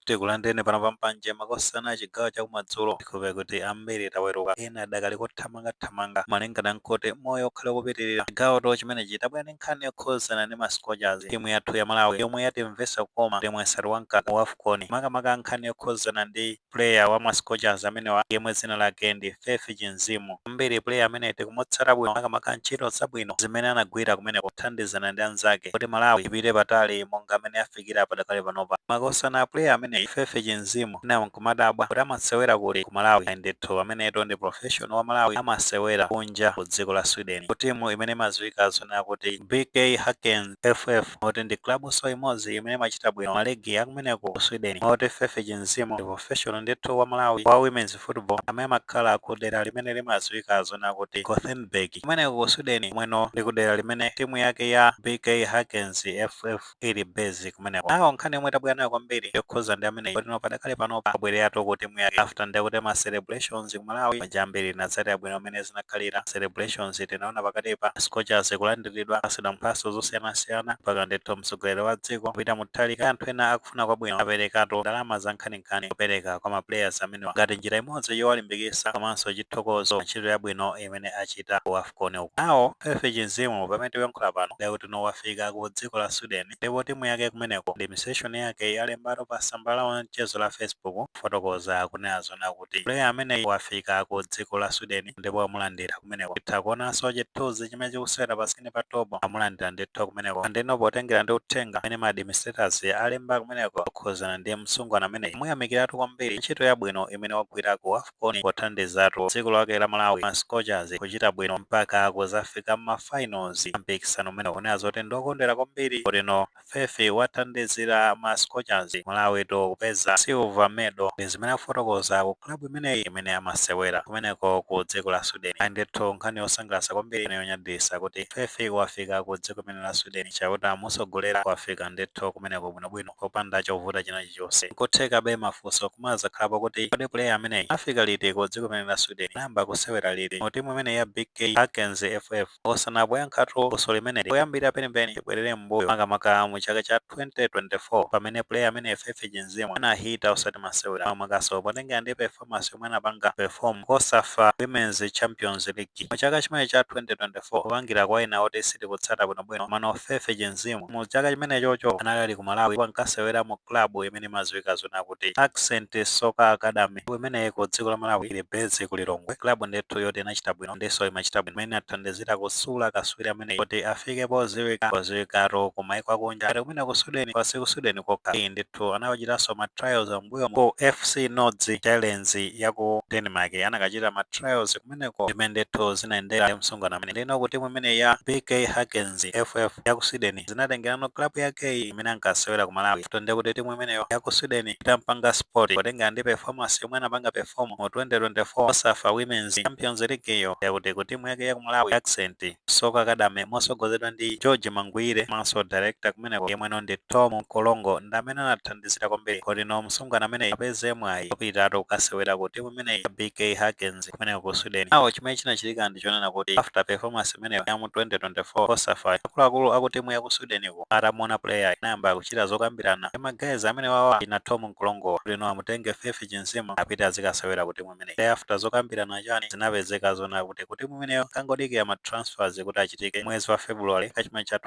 Tikulandireni pano pa Mpanje makosana chigawo chakumadzulo. Tikhope kuti ambiri taweruka, ena adakali kothamangathamanga malingana nkuti moyo ukhale ukupitirira. Chigawotu chimenechi tabwera ndi nkhani yokhuzana ndi ma Scorchers, timu yathu ya Malawi yomwe yatimvesa kukoma potimwesatu wa mkaka ku Afcon. Makamaka nkhani yokhuzana ndi player wa ma Scorchers amenewa yemwe dzina lake ndi Faith Chinzimu. Ambiri player ameneyi tikumutsata bwino makamaka ntchito zabwino zimene anagwira kumeneko pothandizana ndi anzake kuti Malawi ipite patali monga m'mene yafikira. akuchitikira padakali panopa makosana a player ameneyi Faith Chinzimu ena nkumadabwa kuti amasewera kuti ku Malawi ayi ndithu ameneyutu ndi professional wa Malawi amasewera kunja ku dziko la Sweden ku timu imene imadziwika zonena kuti BK Häcken FF moti ndi clubso imodzi imene imachita bwino ma league akumeneko ku Sweden moti Faith Chinzimu ndi professional ndithu wa Malawi wa women's football amene amakhala ku dera limene limadziwika zonena kuti Gothenburg kumeneko ku Sweden kumweno ndi ku dera limene timu yake ya BK Häckens FF ili base kumeneko now nkhani yomwe tabwera nayo kwambiri yokhuza ndi ameneyi kuti no padakali panopa abwereratu ku timu yake after ndiye kuti ma celebrations ku malawi manja ambiri tinatsatira bwino mmene zinakhalira celebrations tinaona pakati pa scorchers kulandiridwa apasidwa mphaso zosiyanasiyana mpaka ndithu mtsogoleri wa dziko a Peter Mutharika anthu ena akufuna kwabwino aperekatu ndalama za nkhaninkhani kupereka kwa ma players amenewa ngati njira imodzi yowalimbikisa komanso chithokozo ntchito yabwino imene achita ku afcon uku. Now Faith Chinzimu pamene tikuyankhula pano ndiye kuti no wafika ku dziko la Sweden ndipo timu yake kumeneko administration yake yalembatu pa samba lawo la mchezo la Facebook kufotokoza kunena zonena kuti player ameneyi wafika ku dziko la Sweden ndipo amulandira kumeneko. Titha kuonanso chithuzi chimene chikusewera pa screen pa top amulandira ndithu kumeneko and no potengera ndi uthenga umene ma administrators alemba kumeneko okhuzana ndi msungwana ameneyi amuyamikiratu kwambiri ntchito yabwino imene wagwira ku afcon. con pothandizatu dziko lake la Malawi ma Scorchers kuchita bwino mpaka kuzafika mma finals a mpikisano umenewu ponena zoti ndi okondwera kwambiri kuti no Faith wathandizira ma Scorchers, Malawitu kupeza silver medal. Ndi zimene akufotokoza ku club imeneyi imene amasewera kumeneko ku dziko la Sweden. Ayi ndithu nkhani yosangalatsa kwambiri ndi yonyadisa kuti Faith wafika ku dziko limene la Sweden. Chauta amutsogolera wafika ndithu kumeneko bwinobwino. popanda chovuta china chilichonse. Nkuthekabe mafunso kumazakhalapo kuti kodi player ameneyi anafika liti ku dziko limene la Sweden? Anayamba kusewera liti mu timu imeneyi ya BK Häckens FF? Makosana poyankhatu funso limeneli, poyambirira penipeni tibwerere m'mbuyo makamaka mu chaka cha 2024 pamene player ameneyi Faith Chinzimu anahita osati masewera, makamakanso potengera ndi performance. performance yomwe anapanga perform Cosafa Women's Champions League mu chaka chimene cha 2024 kupangira kwa ena oti sitikutsata bwinobwino komano Faith Chinzimu mu chaka chimenechocho anali ali ku Malawi ndipo ankasewera mu club imene imadziwika zona kuti Ascent Soccer Academy ndipo imeneyi ku dziko la Malawi ili base ku Lilongwe club ndithu yoti inachita bwino ndinso imachita bwino imene inathandizira kusula kaswiri ameneyi kuti afike podziwika podziwikatu ku maiko akunja ngati kumene ku Sweden kaya si ku Sweden kokha iyi ndithu anawachitanso ma trials mbuyomu ku FC Nordsjælland yaku Denmark anakachita ma trials kumeneko ndi mmene ndithu zinayendera msungwana amene ndino ku timu imeneyi ya BK Häcken FF yaku Sweden zinatengerano club yakeyi imene ankasewera ku Malawi after ndekuti timu imeneyo yaku Sweden itampanga spot potengera ndi performance yomwe anapanga perform mu 2024 Cosafa Women's Champions League yo ndekuti ku timu yake yaku Malawi Ascent Soccer Academy motsogozedwa ndi George Maguire komanso director kumeneko yemweno ndi Thom Mkorongo ndamene anathan dizira kwambiri kuti no msungwana ameneyi apeze mwayi opitatu kukasewera ku timu imeneyi ya BK Häcken kumeneko ku Sweden. Nawo chimene chinachitika ndi chonena kuti after performance imeneyo ya mu 2024 Cosafa, akuluakulu aku timu ya ku Sweden ku atamuona player inayamba kuchita zokambirana ndi ma guys amene wawa ina Thom Mkorongo kuti no amutenge Faith Chinzimu apite azikasewera ku timu imeneyi. Thereafter zokambirana chani zinapezeka zonena kuti ku timu imeneyo kangodikira ma transfers kuti achitike mwezi wa February chaka chimene cha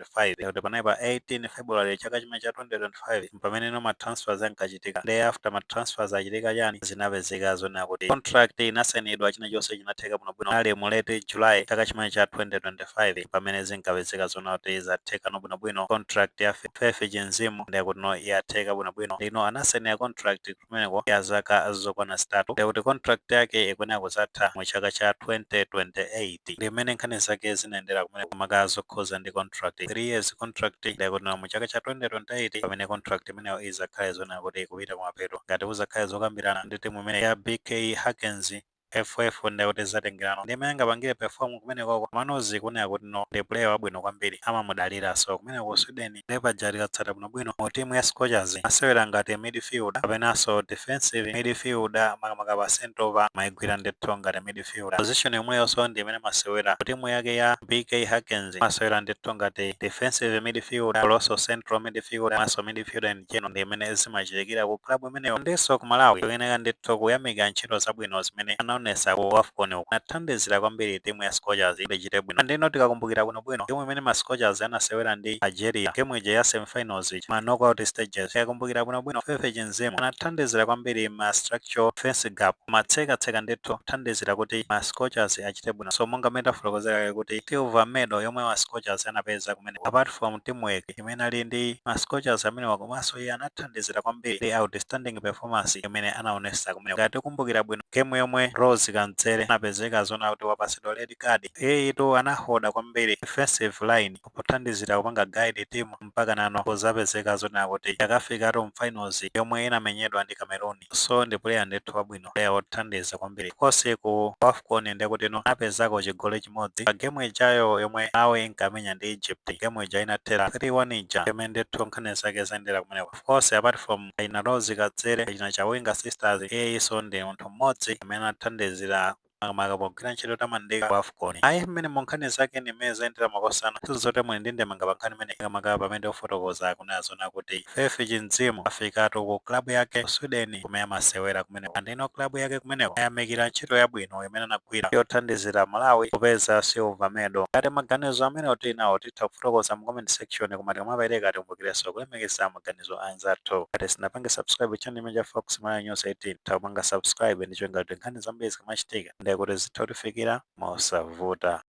2025 kuti panali pa 18 February chaka chimene cha 2025 mpamene no matransfers ankachitika thereafter matransfers achitika chani zinapezeka zonena kuti contract inasainidwa china chonse chinatheka bwino bwino ali mu late July chaka chimene cha 2025 pamene zinkapezeka zona kuti zatheka no bwino bwino contract ya Fe- Faith Chinzimu ndiye kuti no yatheka bwino bwino ndino anasainira contract kumeneko ya zaka zokwana zitatu ndiye kuti contract yake ikuyenera kudzatha mu chaka cha 2028 ndi mmene nkhani zake zinayendera kumeneko makamaka zokhuza ndi contract 3 years contract ndiye kuti mu chaka cha 2028 pamene contract imeneyo izakhale zonena kuti ikupita kumapeto ngati kuzakhale zokambirana ndi timu imene ya bk häcken FF nde kuti zatengerano ndi mmene angapangire perform kumenekoko komano zikuoneka kuti no ndi player wabwino kwambiri amamudaliranso kumeneko ku Sweden nde paja tikatsata bwinobwino mu team ya Scorchers amasewera ngati midfielder kapenanso defensive midfielder makamaka pa centre pa amaigwira ndithu ngati midfielder position yomweyonso ndi imene amasewera ku timu yake ya BK Häcken amasewera ndithu ngati defensive midfielder komanso central midfielder komanso midfielder in general ndi imene zimachitikira ku club imeneyo ndinso ku Malawi tikuyenera ndithu kuyamika ntchito zabwino zimene anaonesa ku Wafcon uku anathandizira kwambiri timu ya Scorchers kuti ichite bwino ndeno tikakumbukira bwinobwino game imene ma Scorchers anasewera ndi Algeria game ija ya semifinals ija ma knockout stages tikakumbukira bwinobwino Faith Chinzimu anathandizira kwambiri ma structural defense gap kumatsekatseka ndithu kuthandizira kuti ma Scorchers achite bwino so monga mmene tafotokozera kale kuti silver medal yomwe ma Scorchers anapeza kumeneko apart from teamwork imene ali ndi ma Scorchers amenewa komanso iye anathandizira kwambiri ndi outstanding performance imene anaonesa kumene ngati tikumbukira bwino game yomwe Rose Kadzere anapezeka zona kuti wapasidwa red card iyeyitu anahoda kwambiri defensive line pothandizira kupanga guide team mpaka nano kuzapezeka zona kuti yakafikatu mu finals yomwe inamenyedwa ndi Cameroon so ndi player ndithu wabwino player wothandiza kwambiri of course ku afcon ndekuti no anapezako chigoli chimodzi pa gemu ijayo yomwe malawi inkamenya ndi egypt gemu ija inathera 3-1 ija yomwe ndithu nkhani zake zayendera kumeneko of course apart from achina rose kadzere achina chawinga sisters iyeyiso ndi munthu mmodzi amene anathandizira makamaka pogwira ntchito yotamandika ku afcon ayi mmene mu nkhani zake ndi mmene zayendera makosana sizote muli ndi ndemanga pa nkhani imene makamaka pamene ofotokoza akunena zona kuti faith chinzimu afikatu ku klabu yake ku sweden kumene amasewera kumeneko andino klabu yake kumeneko ayamikira ntchito yabwino imene anagwira yothandizira malawi kupeza silver medal ngati maganizo amene tili nawo titha Titha kufotokoza mu comment section koma tikamapereka tikumbukirenso kulemekeza maganizo a anzathu. Ngati sinapange subscribe channel chimene cha Fox Malawi News 18, titha kupanga subscribe ndi cholinga kuti nkhani zambiri zikamachitika ndiye kuti zitha kutifikira mosavuta.